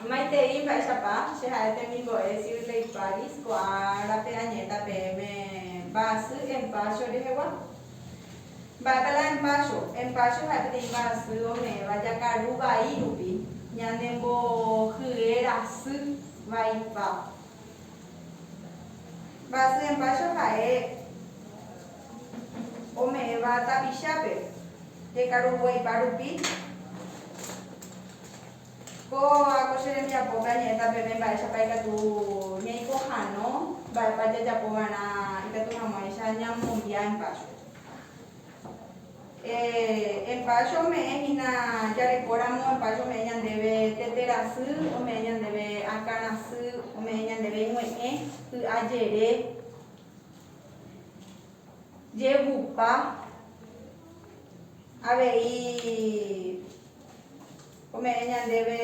Maitei mba'éichapa che ha'e temimbo'e Shirley Paris ko'ã árape añe'ẽta peẽme mba'asy empacho rehegua. Mba'épa la empacho? Empacho ha'e peteĩ mba'asy ome'ẽva jakaru vai rupi ñanembohye rasy vaipa. Mba'asy empacho ha'e ome'ẽva tapichápe jekaruguaipa rupi, kóva ko che rembiapópe añe'ẽta peve mba'éichapa ikatu ñaipohãno, mba'épa jajapo va'erã ikatu hag̃uáicha ñamombia Empacho. Empacho ome'ẽ hína, jareko ramo Empacho ome'ẽ ñandéve tete rasy, ome'ẽ ñandéve akã rasy, ome'ẽ ñandéve ñue'ẽ, py'a jere, Jejupa avei ome'ẽ ñandéve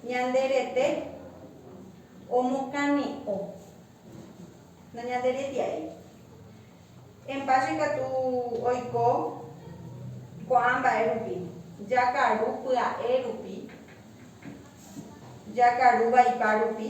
ñande rete omokane'o, nañanderetia'i. Empáce katu oiko ko'ã mba'e rupi, jakaru pya'e rupi, jakaru vaipa rupi.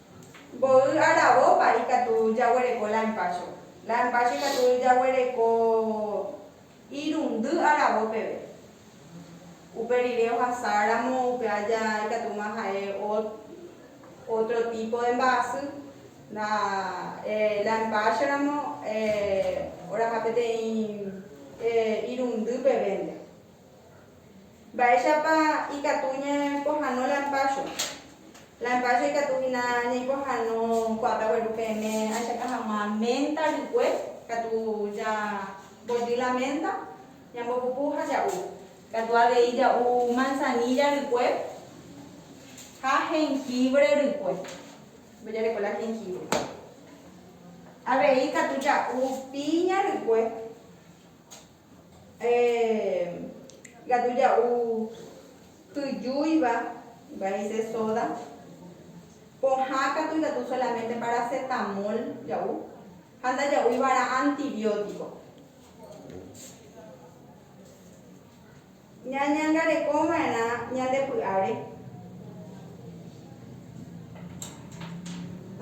Mboy aravópa ikatu jaguereko la empacho. La empacho ikatu jaguereko irundy aravo peve. Upe rire ohasa ramo upe aja ikatúma ha'e ótro típo de mba'asy. La, eh, la empacho ramo, eh, oraha peteĩ, eh, irundy pevénte. Mba'éichapa ikatu ñapohano la mpácho? La mpácho ikatu hína ñaipohano kuaáta gueru peẽme ahechakuaa hag̃ua ménta rykue, katu jambojy la ménta, ñambopupu ha ja'u. Katu avei ja'u mansanílla rykue ha jengívre rykue, mbojareko la jengívre. Avei ikatu ja'u píña rykue. Gatu ja'u tyjúiva vaise sóda. Pohã katu ikatu solaménte parasetamól ja'u ha ndaja'úi va'erã antibiótiko. Ñañangarekova'erã ñande py'áre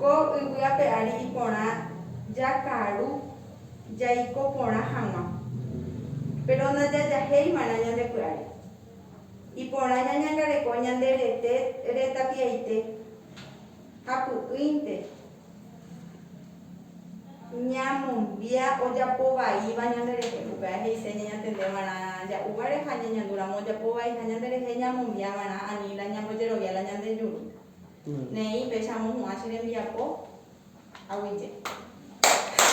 ko yvy ape ári iporã jakaru jaiko porã hag̃ua, péro ndajajahéiva'erã ñande py'áre. Iporã ñañangareko ñande rete retapiaite ha py'ỹinte Ñamombia ojapo vaíva ñande rehe. Upéva he'ise ñañatende va'erã ja'u guare ha ñañandu ramo ojapo vaiha ñande rehe ñamombia va'erã ani la ñambojerovia la ñande juru. Ne'ĩ péicha amohu'ã che rembiapo aguyje.